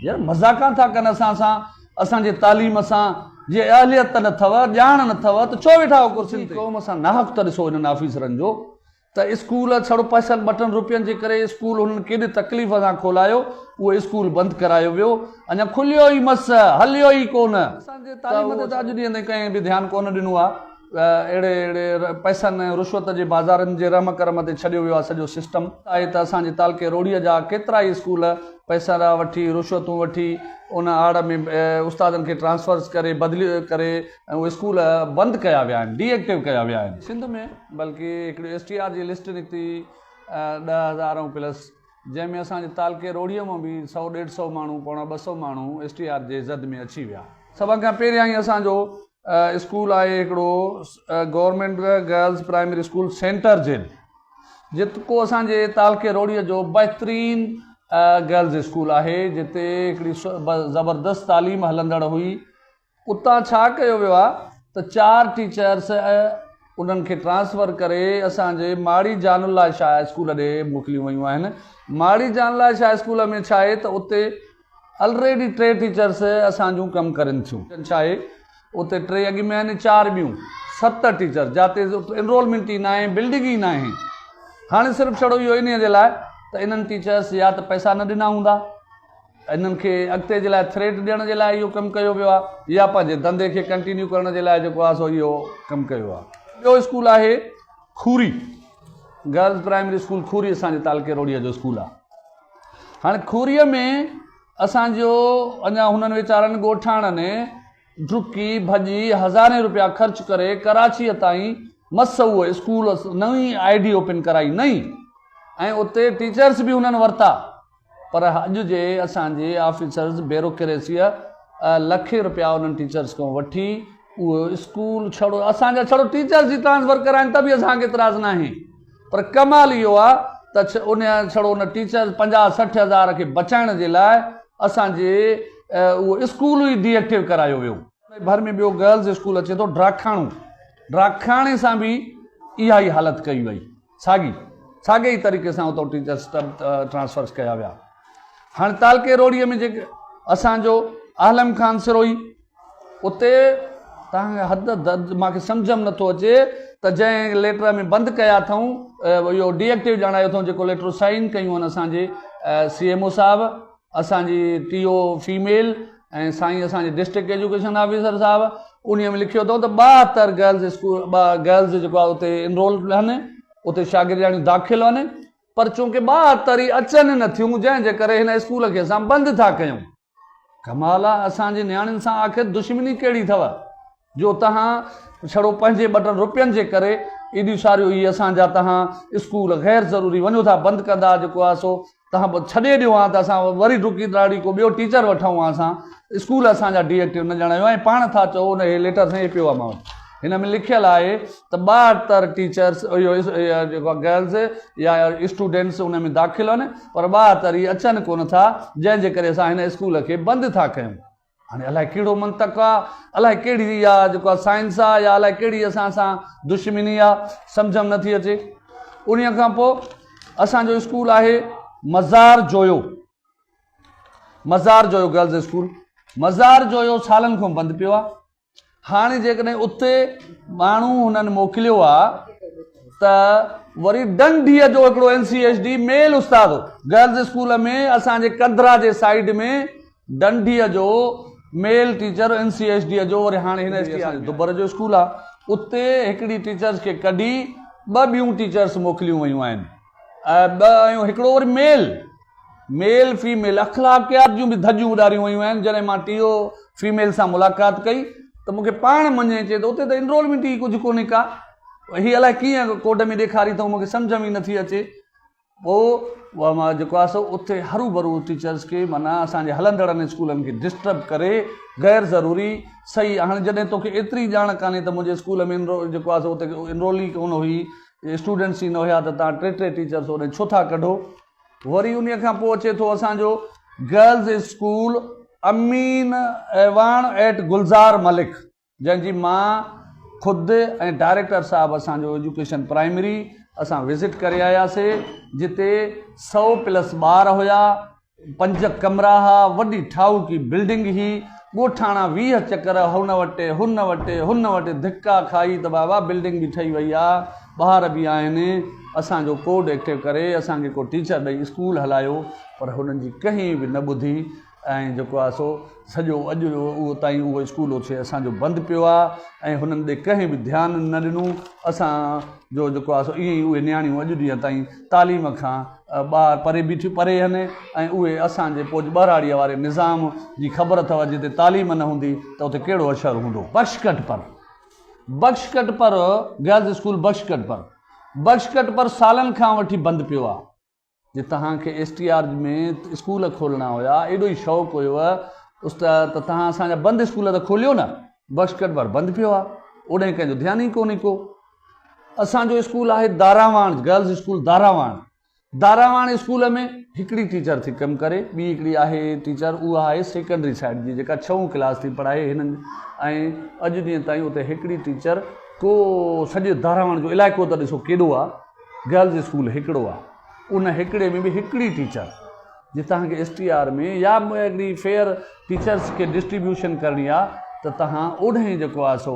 يار مزاقان ٿا ڪن اسان سان اسان جي تعليم سان جي اهليت ته نه ٿئو ڄاڻ نه ٿئو ته ڇو ويٺا آهو ڪرسين تي. قوم سان ناحق ته ڏسو انهن آفيسرن جو ته اسڪول ڇڙو پئسن ٻٽن روپين جي ڪري اسڪول هنن ڪيڏي تڪليف سان کولايو اهو اسڪول بند ڪرايو ويو اڃا کليو ئي مس هليو ئي ڪونه اسان جي تعليم تي ته اڄ ڏينهن تائين ڪنهن به ڌيان ڪونه ڏنو آهي. اهڙي اهڙي پئسن ۽ رشوت جي بازارن جي رحم ڪرم تي ڇڏيو ويو آهي سڄو سسٽم. آهي ته اسان جي تعلقي روهڙيء جا ڪيترائي اسڪول پئسرا وٺي، رشوتون وٺي، ان آڙ ۾ استادن کي ٽرانسفرز ڪري، بدليون ڪري ۽ اهي اسڪول بند ڪيا ويا آهن، ڊي ايڪٽو ڪيا ويا آهن. سنڌ ۾ بلڪه هڪڙي ايس ٽي آر جي لسٽ نڪتي ڏهه هزار ۽ پلس. جنهن ۾ اسان جي تعلقي روهڙيء مان به سؤ ڏيڍ سؤ ماڻهو پوڻا ٻه سؤ ماڻهو ايس ٽي آر جي زد ۾ اچي ويا. سڀ کان پهريائين اسان جو اسڪول آهي هڪڙو government girls primary school centre jail جيڪو اسان جي تعلقي روهڙيء جو بهترين گرلز اسڪول آهي جتي هڪڙي زبردست تعليم هلندڙ هئي اتان ڇا ڪيو ويو آهي ته چار ٽيچرس انهن کي ٽرانسفر ڪري اسان جي ماڙي جان الله شاهه اسڪول ڏي موڪليون ويون آهن ماڙي جان الله شاهه اسڪول ۾ ڇاهي ته اتي الريڊي ٽي ٽيچرس اسان جون ڪم ڪرين ٿيون ڇاهي اتي ٽي اڳ ۾ آهن چار ٻيون ست ٽيچر جاتي انرولمنٽ ئي ناهي بلڊنگ ئي ناهي هاڻي صرف ڇڙو اهو انهي جي لاء ته انهن ٽيچرس يا ته پئسا نه ڏنا هوندا. انهن کي اڳتي جي لاء ٿريٽ ڏيڻ جي لاء اهو ڪم ڪيو ويو آهي يا پنهنجي ڌنڌي کي ڪنٽينيو ڪرڻ جي لاء جيڪو آهي سو اهو ڪم ڪيو ويو آهي. ٻيو اسڪول آهي کوري گرلز پرائمري اسڪول کوري اسان جي تعلقي روهڙيء جو اسڪول آهي هاڻي کوريء ۾ اسان جو اڃا هنن ويچارن ڳوٺاڻن ڊڪي ڀڄي هزارين روپيا خرچ ڪري ڪراچيء تائين مس اهو اسڪول نئين آء ڊي اوپن ڪرائي نئين ۽ اتي ٽيچرس به هنن ورتا پر اڄ جي اسان جي آفيسرز بيروڪريسيء لکين رپيا انهن ٽيچرز کان وٺي اهو اسڪول ڇڙو اسان جا ڇڙو ٽيچرز ئي ٽرانسفر ڪرائين ته به اسان کي اعتراض ناهي پر ڪمال اهو آ ته انهن ڇڙو ان ٽيچرز پنجاهه سٺ هزار کي بچائڻ جي لاء اسان جي اهو اسڪول ئي ڊي ايڪٽيو ڪرايو ويو. انهي ڀر ۾ ٻيو گرلز اسڪول اچي ٿو ڊراکاڻو ڊراکاڻي سان به اها ئي حالت ڪئي وئي. ساڳي ساڳي ئي طريقي سان اتو ٽيچر سٽب ٽرانسفرس ڪيا ويا هاڻي تعلقي روڙي ۾ جيڪي اسان جو عالم خان سروهي اتي تان حد درد ما کي سمجھ ۾ نٿو اچي ته جنهن ليٽر ۾ بند ڪيا اٿئون اهو ڊي ايڪٽيو ڄاڻايو اٿئون جيڪو ليٽر سائن ڪيون ان اسان جي سي ايم او صاحب اسان جي ٽي او فيميل ۽ سائين اسان جي ڊسٽرڪٽ ايجوڪيشن آفيسر صاحب انهي ۾ لکيو اٿو ته ٻاهتر گرلز اسڪول گرلز جيڪو آهي اتي انرول آهن اتي شاگردياڻيون داخل آهن پر چونڪه ٻاهتر ئي اچن نه ٿيون جنهن جي ڪري هن اسڪول کي اسان بند ٿا ڪيون ڪمال آهي اسان جي نياڻين سان آخر دشمني ڪهڙي اٿو جو تهان ڇڙو پنهنجي ٻه ٽن روپين جي ڪري ايڏيون ساريون هي اسان جا تهان اسڪول غير ضروري وڃو ٿا بند ڪندا جيڪو آهي سو تنهن پوء ڇڏي ڏيو هان ته اسان وري ڊڪي ڏاڙهي ڪو ٻيو ٽيچر وٺون هان اسان اسڪول اسان جا ڊي ايڪٽو نه ڄاڻايو هان ۽ پاڻ ٿا چئو ان هي ليٽر سائين هي پيو آهي مان وٽ هن ۾ لکيل آهي ته ٻاهتر ٽيچرس اهو جيڪو گرلس يا اسٽوڊنٽس ان ۾ داخل آهن پر ٻاهتر هي اچن ڪونه ٿا جنهن جي ڪري اسان هن اسڪول کي بند ٿا ڪيون هاڻي الائي ڪهڙو منطق آ، الائي ڪهڙي اها جيڪا سائنس آ يا الائي ڪهڙي اسان سان دشمني آ، سمجهه م نٿي اچي. انهيء کان پوء اسان جو اسڪول آهي مزار جويو، مزار جويو گرلز اسڪول، مزار جويو سالن کان بند پيو آ. هاڻي جيڪڏهن اتي ماڻهو هنن موڪليو آ ته وري ڊنڊيء جو هڪڙو N C S D male استاد هو گرلز اسڪول ۾ اسان جي ڪندرا جي سائيڊ ۾ ڊنڊيء جو male teacher N C S D جو وري هاڻي هن دبر جو اسڪول آ اتي هڪڙي ٽيچرز کي ڪڍي ٻه ٻيون ٽيچرز موڪليون ويون آهن ٻه هڪڙو وري ميل ميل فيميل اخلاقيات جون به ڌڄون اڏاريون ويون آهن جڏهن مان ٽي او فيميل سان ملاقات ڪئي ته مون کي پاڻ مڃي چي ته اتي ته انرولمينٽ ئي ڪجهه ڪونهي ڪا هي الائي ڪيئن ڪوڊ ۾ ڏيکاري اٿئون مون کي سمجهه ۾ ئي نٿي اچي پوء اها مان جيڪو آهي سو اتي هروڀرو ٽيچرس کي معنيٰ اسان جي هلندڙن اسڪولن کي ڊسٽرب ڪري غير ضروري صحيح هاڻي جڏهن تو کي ايتري ڄاڻ ڪانهي ته منهنجي اسڪول ۾ انرو جيڪو آهي سو اتي انرول ئي ڪونه هئي اسٽوڊنٽس ئي نه هيا ته تان ٽي ٽي ٽيچرس هوڏانهن ڇو ٿا ڪڍو وري انهيء کان پوء اچي ٿو اسان جو girls school Amin ايواڻ eight Gulzar Malik جنهن جي مان خود ۽ ڊائريڪٽر صاحب اسان جو ايجوڪيشن پرائمري اسان وزٽ ڪري آياسي جتي سئو پلس ٻار هيا پنج ڪمرا ها وڏي ٺاهوڪي بلڊنگ هي ڳوٺاڻا ويهه چڪر هن وٽي هن وٽي هن وٽي ڌڪا کائي ته بابا بلڊنگ به ٺهي وئي آ ٻار به آهن اسان جو ڪوڊ ايڪٽو ڪري اسان کي ڪو ٽيچر ڏئي اسڪول هلايو پر هنن جي ڪنهن به نه ٻڌي ۽ جيڪو آ سو سڄو اڄ اهو تائين اهو اسڪول اٿي اسان جو بند پيو آ ۽ هنن ڏي ڪنهن به ڌيان نه ڏنو اسان جو جيڪو آ سو ائين اهي نياڻيون اڄ ڏينهن تائين تعليم کان ٻار پري بيٺيون پري هن ۽ اهي اسان جي پوڄ ٻهراڙيء واري نظام جي خبر اٿئو جتي تعليم نه هوندي ته اتي ڪهڙو اشهر هوندو. بخش ڪٽ پر بخش ڪٽ پر گرلز اسڪول بخش ڪٽ پر بخش ڪٽ پر سالن کان وٺي بند پيو آ جي تهان کي ايس ٽي آر ۾ اسڪول کولڻا هيا ايڏو ئي شوق هيو اس ته ته تهان اسان جا بند اسڪول ته کوليو نه بخش ڪٽ پر بند پيو آ اوڏهين ڪنهن جو ڌيان ئي ڪونهي ڪو اسان جو اسڪول آهي Darawan girls school Darawan Darawan school ۾ هڪڙي ٽيچر ٿي ڪم ڪري ٻي هڪڙي آهي ٽيچر اها آهي سيڪنڊري سائيڊ جي جيڪا ڇهون ڪلاس ٿي پڙهائي هنن ۽ اڄ ڏينهن تائين اتي هڪڙي ٽيچر ڪو سڄي داراواڻ جو علائقو ته ڏسو ڪيڏو آهي گرلز اسڪول هڪڙو آهي ان هڪڙي ۾ به هڪڙي ٽيچر جي تهان کي ايس ٽي آر ۾ يا هڪڙي فيئر ٽيچرس کي ڊسٽريبيوشن ڪرڻي آهي ته تهان اوڏهين جيڪو آهي سو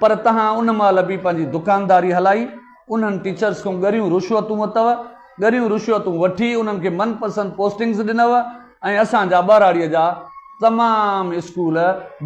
پر توهان ان مهل به پنهنجي دڪانداري هلائي انهن ٽيچرس کان ڳريون رشوتون ورتؤ، ڳريون رشوتون وٺي انهن کي من پسند پوسٽنگس ڏنؤ ۽ اسان جا ٻهراڙيء جا تمام اسڪول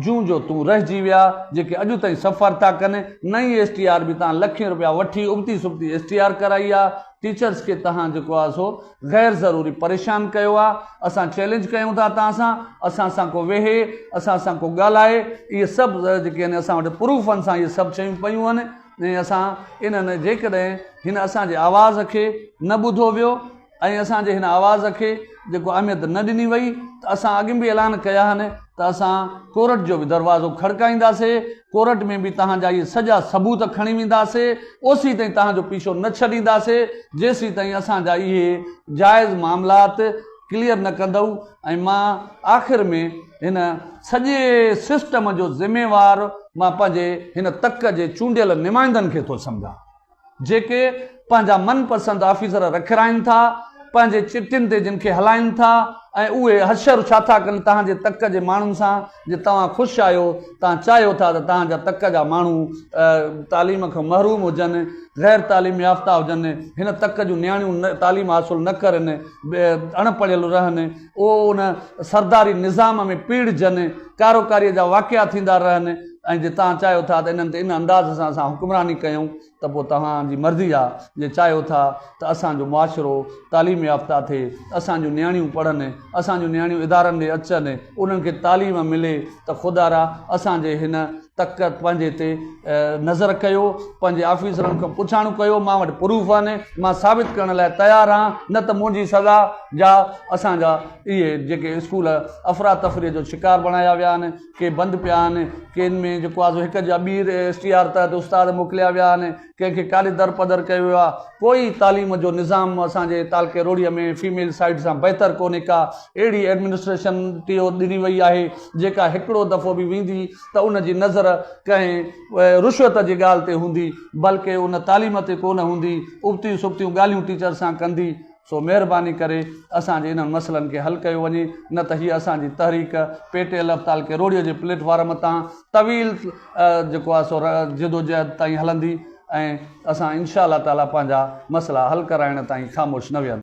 جون جو تون رهجي ويا جيڪي اڄ تائين سفر ٿا ڪن، نئين ايس ٽي آر به توهان لکين روپيا وٺي ابتي سبتي ايس ٽي آر ڪرائي آ، ٽيچرس کي توهان جيڪو آ سو غير ضروري پريشان ڪيو آ اسان چئلينج ڪيون ٿا تان سان اسان سان ڪو ويهي اسان سان ڪو ڳالهائي اهي سڀ جيڪي آهن اسان وٽ پروف آهن سان اهي سڀ چيون پيون آهن ۽ اسان انهن جيڪڏهن هن اسان جي آواز کي نه ٻڌو ويو ۽ اسان جي هن آواز کي جيڪو اهميت نه ڏني وئي ته اسان اڳ به اعلان ڪيا آهن ته اسان ڪورٽ جو به دروازو کڙڪائينداسي ڪورٽ ۾ به توهان جا اهي سڄا ثبوت کڻي وينداسي، اوسي تائين توهان جو پيشو نه ڇڏينداسي، جيسي تائين اسان جا اهي جائز معاملات ڪليئر نه ڪندؤ ۽ مان آخر ۾ هن سڄي سسٽم جو ذميوار مان پنهنجي هن تڪ جي چونڊيل نمائندن کي ٿو سمجهان. جيڪي پنهنجا من پسند آفيسر رکرائين ٿا، پنهنجي چٽين تي جن کي هلائين ٿا ۽ اهي حشر ڇا ٿا ڪن تهان جي تڪ جي ماڻهن سان جي توهان خوش آهيو، توهان چاهيو ٿا ته توهان جا تڪ جا ماڻهو تعليم کان محروم هجن، غير تعليم يافته هجن، هن تڪ جون نياڻيون تعليم حاصل نه ڪرن، اڻ پڙهيل رهن. اهو ان سرداري نظام ۾ پيڙهجن، ڪاروڪاريء جا واقعا ٿيندا رهن ۽ جي توهان چاهيو ٿا ته انهن تي ان انداز سان اسان حڪمراني ڪيون ته پوء توهان جي مرضي آ، جي چاهيو ٿا ته اسان جو معاشرو تعليم يافته ٿئي، اسان جون نياڻيون پڙهن، اسان جون نياڻيون ادارن ڏي اچن، انهن کي تعليم ملي ته خدارا اسان جي هن. تڪ پنهنجي تي نظر ڪيو، پنهنجي آفيسرن کان پڇاڻو ڪيو، مان وٽ پروف آهن، مان ثابت ڪرڻ لاء تيار آهيان، نه ته منهنجي سزا جا اسان جا اهي جيڪي اسڪول افراتفري جو شڪار بڻايا ويا آهن، ڪي بند پيا آهن، ڪين ۾ جيڪو آزو هڪ جا ٻيهر ايس ٽي آر تحت استاد موڪليا ويا آهن، ڪنهن کي ڪاڏي درپدر ڪيو ويو آهي. ڪوئي تعليم جو نظام اسان جي تعلقي روهڙيء ۾ فيميل سائيڊ سان بهتر ڪونهي ڪا اهڙي ايڊمنسٽريشن ٽيو ڏني وئي آهي جيڪا هڪڙو دفعو به ويندي ته ان جي نظر ڪنهن رشوت جي ڳالهه تي هوندي بلڪه ان تعليم تي ڪونه هوندي ابتيون سبتيون ڳالهيون ٽيچر سان ڪندي سو مهرباني ڪري اسان جي انهن مسئلن کي حل ڪيو وڃي نه ته هيء اسان جي تحريڪ پي ٽي ايل ايف تعلقي روهڙيء جي پليٽ فارم تان طويل جيڪو آهي سو جدوجهد تائين هلندي ۽ اسان انشاء الله تعاليٰ پنهنجا مسئلا حل ڪرائڻ تائين خاموش نه ويهنداسين.